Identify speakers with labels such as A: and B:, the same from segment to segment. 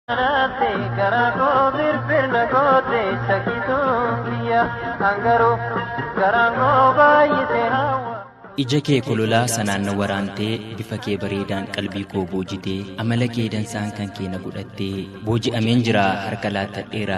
A: Kanaafi garaa koo firfirna goote shakkituun kiyya hangaru garaan koo baay'ise hawwa. Ija kee kololaa sanaan na waraantee bifa kee bareedaan qalbii koo boojitee amala kee dansaan kan kee na godhattee booji'ameen jira harka laattadheera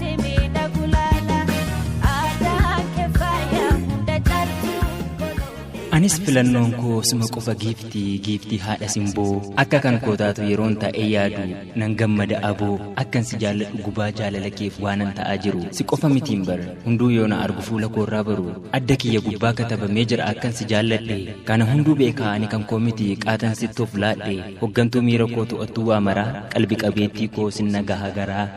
A: anis filannoon koo suma qofa giifti giiftii haadha simboo akka kan koo taatu yeroon taa'ee yaadu nan gammada aboo akkan si jaalladhu gubaa jaalala keef waanan ta'aa jiru si qofa mitiin bar hunduu yoo na argu fuula koorraa baru adda kiyya gubbaa katabamee jira akkan si jaalladhe kana hunduu beekaa ani kan koo miti qaatan sittoof laadhe hoggantuu miira koo to'attuu waa maraa qalbi qabeettii koo sin nagaha garaa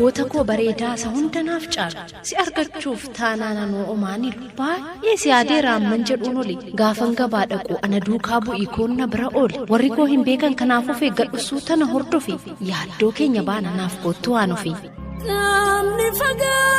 B: Goota koo bareedaa isa hunda naaf caalu si argachuuf taanaan anoo omaanilu baay'ee si yaadee raamman jedhuun oli gaafan gabaa dhaqu ana duukaa bu'ii koon na bira ooli warri koo hin beekan kanaaf of eeggadhu suuta na hordofi yaaddoo keenya baana naaf koottu waan ofi. Namni fagaatulee.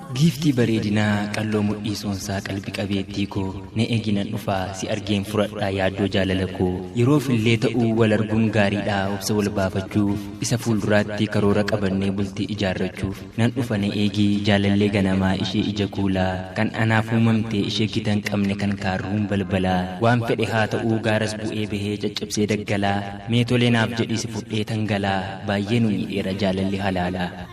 A: Giiftii bareedinaa qalloo mudhii soonsaa qalbi qabeettii koo na egi nan dhufaa si argeen furadhaa yaaddoo jaalala koo yeroof illee ta'uu wal arguun gaariidhaa obsa wal baafachuuf isa fuulduraatti karoora qabannee bultii ijaarrachuuf nan dhufa na eegi jaalallee ganamaa ishee ija kuulaa kan anaaf uumamtee ishee gita hin qabne kan kaarruun balbalaa waan fedhe haa ta'uu gaaras bu'ee bahee caccabsee daggalaa mee tolee naaf jedhii si fudhee tan galaa baay'ee nu miidheera jaalalli halaalaa.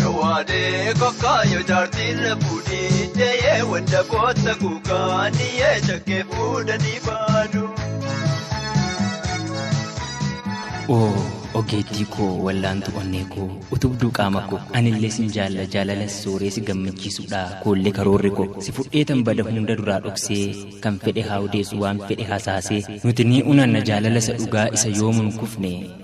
C: Jawaadee kokkaa yoo jaartiin na fuudhii deeyee wadda kootta kuukaa niyyee shakkee fuudhanii baadu.
A: Oo ogeettii koo wallaantu onnee koo utubduu qaama koo anillee sin jaalla jaalala sooree si gammachiisuudha koollee karoorri koo si fudhee tan bada hunda duraa dhoksee kan fedhe haa odeessu waan fedhe hasaasee nuti ni unanna jaalala isa dhugaa isa yoomuun kufne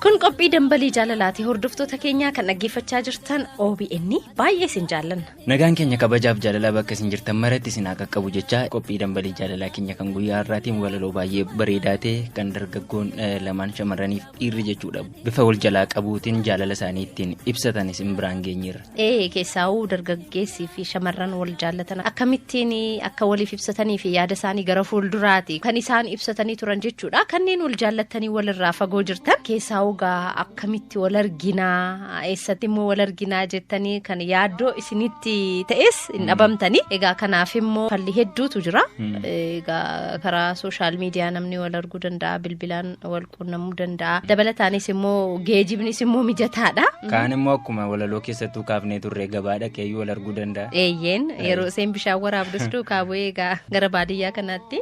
D: Kun
B: qophii dambalii jaalalaati hordoftoota keenyaa kan dhaggeeffachaa jirtan OBN baay'ee isin jaallanna. Nagaan keenya kabajaaf
A: jaalalaa bakka isin jirtan maratti isin haa qaqqabu jechaa qophii dambalii jaalalaa keenya kan guyyaa har'aatiin walaloo baay'ee bareedaa ta'e kan dargaggoon eh, lamaan shamarraniif dhiirri jechuudha bifa wal jalaa qabuutiin jaalala isaanii ittiin ibsatan isin biraan geenyeerra. Ee keessaawuu
B: dargaggeessii fi shamarran wal jaallatan akkamittiin akka waliif ibsatanii fi yaada isaanii gara fuulduraati kan isaan ibsatanii turan jechuudha. Kanneen wal jaallatanii walirraa fagoo jirtan keessaawuu gaa akkamitti wal arginaa eessatti immoo wal arginaa jettanii kan yaaddoo isinitti ta'es hin dhabamtanii. Egaa kanaaf immoo falli hedduutu jira. Egaa karaa sooshaal miidiyaa namni wal arguu danda'a bilbilaan wal qunnamuu danda'a. Dabalataanis immoo geejibnis immoo mijataadha. Kaan immoo akkuma
A: walaloo keessattuu kaafnee turre gabaa dhaqeeyyuu wal arguu danda'a. Eeyyeen yeroo
B: isheen bishaan waraabdus duukaa bu'ee egaa gara baadiyyaa kanaatti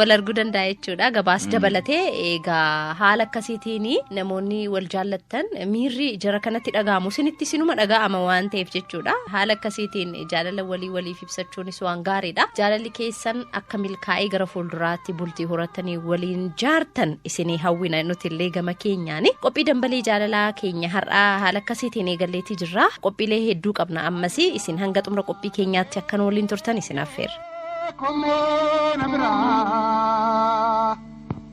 B: wal arguu danda'a jechuudha. Gabaas dabalatee egaa haala akkasiitiin namoonni wal jaallattan miirri jara kanatti dhaga'amu isinitti sinuma dhaga'ama waan ta'eef jechuudha. Haala akkasiitiin jaalala walii waliif ibsachuunis waan gaariidha. Jaalalli keessan akka milkaa'ee gara fuulduraatti bultii horatanii waliin jaartan isinii hawwina nuti illee gama keenyaani. Qophii dambalee jaalalaa keenya har'aa haala akkasiitiin eegalleetii jirra. Qophiilee hedduu qabna ammas isin hanga xumura qophii keenyaatti akkan waliin turtan isin affeerra. Kummoona biraa.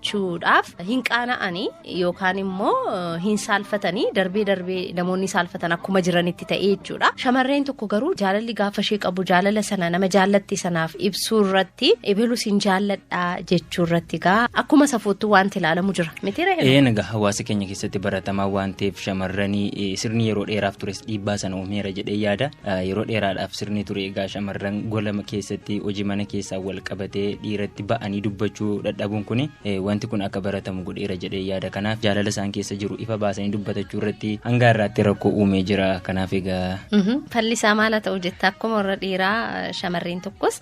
B: gochuudhaaf hin qaana'anii yookaan immoo hin saalfatanii darbee darbee namoonni saalfatan akkuma jiranitti ta'ee jechuudha. Shamarreen tokko garuu jaalalli gaafa ishee qabu jaalala sana nama jaallatti sanaaf ibsuu irratti ebeluus hin jaalladha jechuu irratti gaa akkuma safuuttuu wanti ilaalamu jira. Mitiira Een egaa hawaasa keenya
A: keessatti baratamaa waan ta'eef shamarranii sirni yeroo dheeraaf tures dhiibbaa sana uumeera jedhee yaada. Yeroo dheeraadhaaf sirni ture egaa shamarran golama keessatti hojii mana keessaan wal qabatee dhiiratti ba'anii dubbachuu dadhabuun kun wanti kun akka baratamu godheera jedhee yaada kanaaf jaalala isaan keessa jiru ifa baasanii dubbatachuu irratti hanga irraatti rakkoo uumee jira kanaaf egaa. Falli isaa maal haa
B: ta'u jetta akkuma warra dhiiraa shamarreen tokkos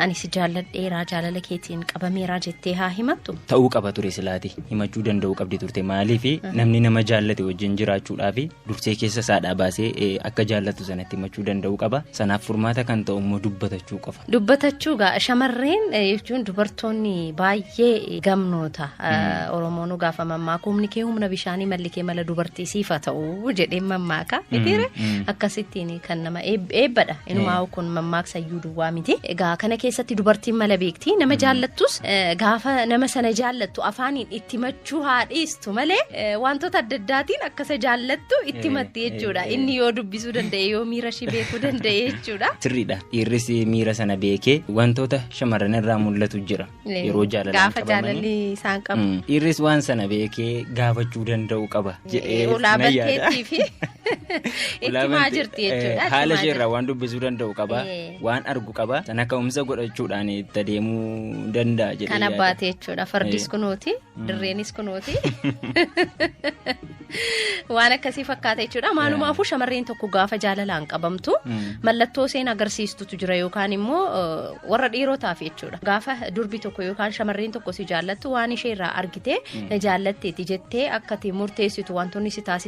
B: ani si jaalladheeraa jaalala keetiin qabameeraa jettee haa himattu. Ta'uu qaba ture silaati
A: himachuu danda'uu qabdi turte maaliif namni nama jaallate wajjin jiraachuudhaaf dursee keessa isaadhaa baasee eh, akka jaallatu sanatti himachuu danda'uu qaba sanaaf furmaata kan ta'u immoo dubbatachuu qofa Dubbatachuu gaa
B: shamarreen eh, jechuun dubartoonni baay'ee gamnoota Eh, Oromoonuu gaafa mammaaka humni kee humna bishaanii malli kee mala dubartii siifa ta'u jedheen mammaaka mitiire mm. akkasittiin kan nama eeb- eebbadha inumaa kun mammaaksa iyyuu duwwaa miti egaa kana keessatti dubartiin mala beekti nama jaallattus eh, gaafa nama sana jaallattu afaaniin itti jechuu haa dhiistu malee eh, wantoota adda addaatiin akka isa jaallattu itti Eh, matti jechuudha. eh, eh. Inni yoo dubbisuu danda'e yoo miira ishii beekuu danda'e jechuudha. Sirriidha. Dhiirris
A: miira sana beekee wantoota shamarran irraa mul'atu jira. Eh, Yeroo jaalalaan Gaafa qabamanii. jaalalli isaan
B: qabu. Mm. Dhiirris waan sana
A: beekee gaafachuu danda'u qaba jedhee Eh, ulaa nan yaada. banteettii fi itti
B: Ulaa himaa bante- jirti eh, jechuudha. itti Haala himaa isheerraa jirti. waan dubbisuu
A: danda'u qaba. Eh. waan argu qaba sana ka'umsa godhachuudhaan itti adeemuu danda'a jedhee Kan yaada. abbaate jechuudha.
B: Fardis kunooti, dirreenis kunooti. Waan akkasii fakkaata jechuudha. Maalumaafuu shamarreen tokko gaafa jaalalaan qabamtu Mm. mallattoo isheen agarsiistutu jira yookaan immoo eh, warra dhiirotaaf jechuudha. Gaafa durbi tokko yookaan shamarreen tokko si jaallattu waan ishee irraa argitee na jaallatteeti jettee akkati murteessitu wantoonni si taasisu.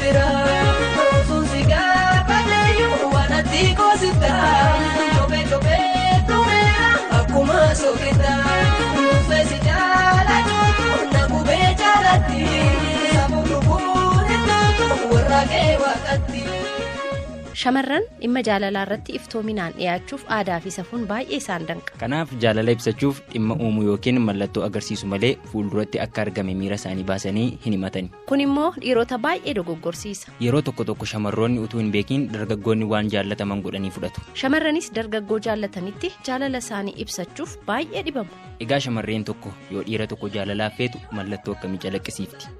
B: jira Otuun si gaafadheeyyu waan ati koosifta Jobee jobee tureera akkuma soofita Nuufee si jaalachuutu na gubee jaalatti Safuu lubbuun ittootu warra kee waaqatti. Shamarran dhimma jaalalaa irratti iftoominaan dhiyaachuuf aadaa fi safuun baay'ee isaan danqa. Kanaaf jaalala ibsachuuf
A: dhimma uumuu yookiin mallattoo agarsiisu malee fuulduratti akka argame miira isaanii baasanii hin himatani. Kun immoo dhiirota
B: baay'ee dogoggorsiisa. Yeroo tokko tokko
A: shamarroonni utuu hin beekin dargaggoonni waan jaallataman godhanii fudhatu. Shamarranis dargaggoo
B: jaallatanitti jaalala isaanii ibsachuuf baay'ee dhibamu. Egaa shamarreen tokko
A: yoo dhiira tokko jaalalaaf feetu mallattoo akkamii calaqqisiifti?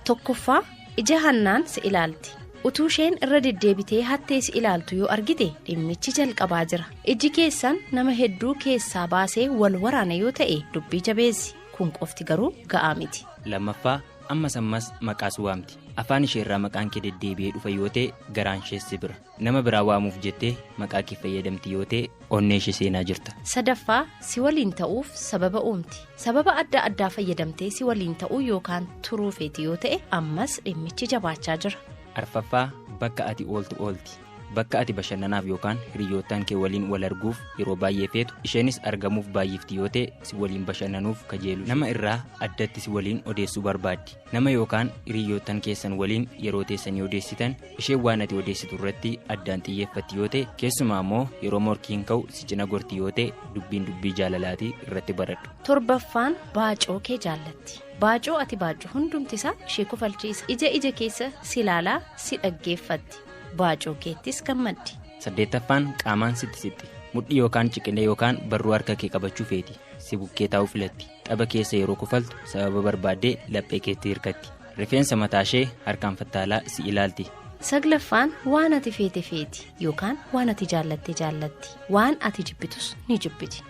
B: Tokkoffaa ija hannaan si ilaalti. Utuu isheen irra deddeebitee hattee si ilaaltu yoo argite dhimmichi jalqabaa jira. Iji keessan nama hedduu keessaa baasee wal waraana yoo ta'e dubbii jabeessi. Kun qofti garuu ga'aa miti. Lammaffaa
A: ammas ammas maqaas waamti. Afaan ishee irraa maqaan kee deddeebi'ee dhufa yoo ta'e garaan ishees si bira. Nama biraa waamuuf jettee maqaa kee fayyadamti yoo ta'e onnee ishee seenaa jirta. Sadaffaa, si
B: waliin ta'uuf sababa uumti. Sababa adda addaa fayyadamtee si waliin ta'uu yookaan turuu feeti yoo ta'e ammas dhimmichi jabaachaa jira. Arfaffaa,
A: bakka ati ooltu oolti. Bakka ati bashannanaaf yookaan hiriyyootaan kee waliin wal arguuf yeroo baay'ee feetu isheenis argamuuf baay'ifti yoo ta'e si waliin bashannanuuf kajeelu. Nama irraa addatti si waliin odeessuu barbaaddi. Nama yookaan hiriyyoottan keessan waliin yeroo teessanii odeessitan isheen waan ati odeessitu irratti addaan xiyyeeffatti yoo ta'e keessumaa immoo yeroo morkiin ka'u si cina gorti yoo ta'e dubbiin dubbii jaalalaatii irratti baradhu. Torbaffaan
B: baacoo kee jaallatti. Baacoo ati baaccu hundumti isaa ishee kofalchiisa. Ija ija keessa si ilaalaa si dhaggeeffatti. Baacoo keettis gammaddi. Saddeettaffaan
A: qaamaan sitti sitti. Mudhii yookaan ciqilee yookaan barruu harka kee qabachuu feeti. Si bukkee taa'uu filatti. Xaba keessa yeroo kofaltu sababa barbaaddee laphee keetti hirkatti. Rifeensa mataashee harkaan fattaalaa si ilaalti. Saglaffaan
B: waan ati feete feeti yookaan waan ati jaallatte jaallatti. Waan ati jibbitus ni jibbiti.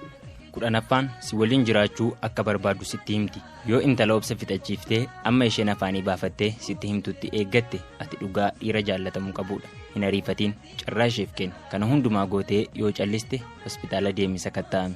B: Kudhanaffaan
A: si waliin jiraachuu akka barbaaddu sitti himti. Yoo intala obsa fixachiiftee amma isheen afaanii baafattee sitti himtutti eeggatte ati dhugaa dhiira jaallatamuu qabudha. Hin ariifatiin. Carraa isheef kenni. Kana hundumaa gootee yoo calliste hospitaala deemi sakatta'ami.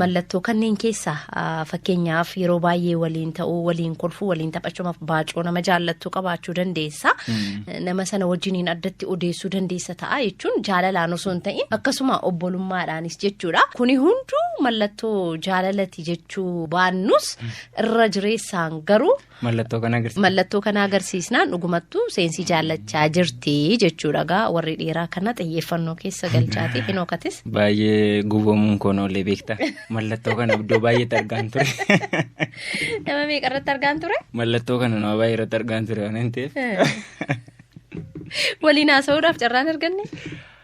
B: Mallattoo kanneen keessaa ah, fakkeenyaaf yeroo baay'ee waliin ta'uu, waliin kolfuu, waliin taphachuuf baacoo nama jaallattu qabaachuu dandeessa. Nama sana wajjiniin addatti odeessuu dandeessa ta'a jechuun jaalalaan osoo hin ta'in akkasuma obbolummaadhaanis jechuudha. Kuni hunduu mallattoo jaalalati jechuu baannus irra jireessaan garuu Mallattoo kana agarsiisa. Mallattoo kana agarsiisnaan dhugumattuu seensii jaallachaa jirti jechuudha gaa warri dhiiraa kana xiyyeeffannoo keessa galchaati hinookatis. Baay'ee
A: gubamuun koon oolee beektaa. Mallattoo kana iddoo baay'eetti argaan ture.
B: Nama meeqa irratti argaan ture? Mallattoo kana nama baay'ee
A: irratti argaan ture waan hin ta'eef.
B: Waliin haasa'uudhaaf carraan arganne?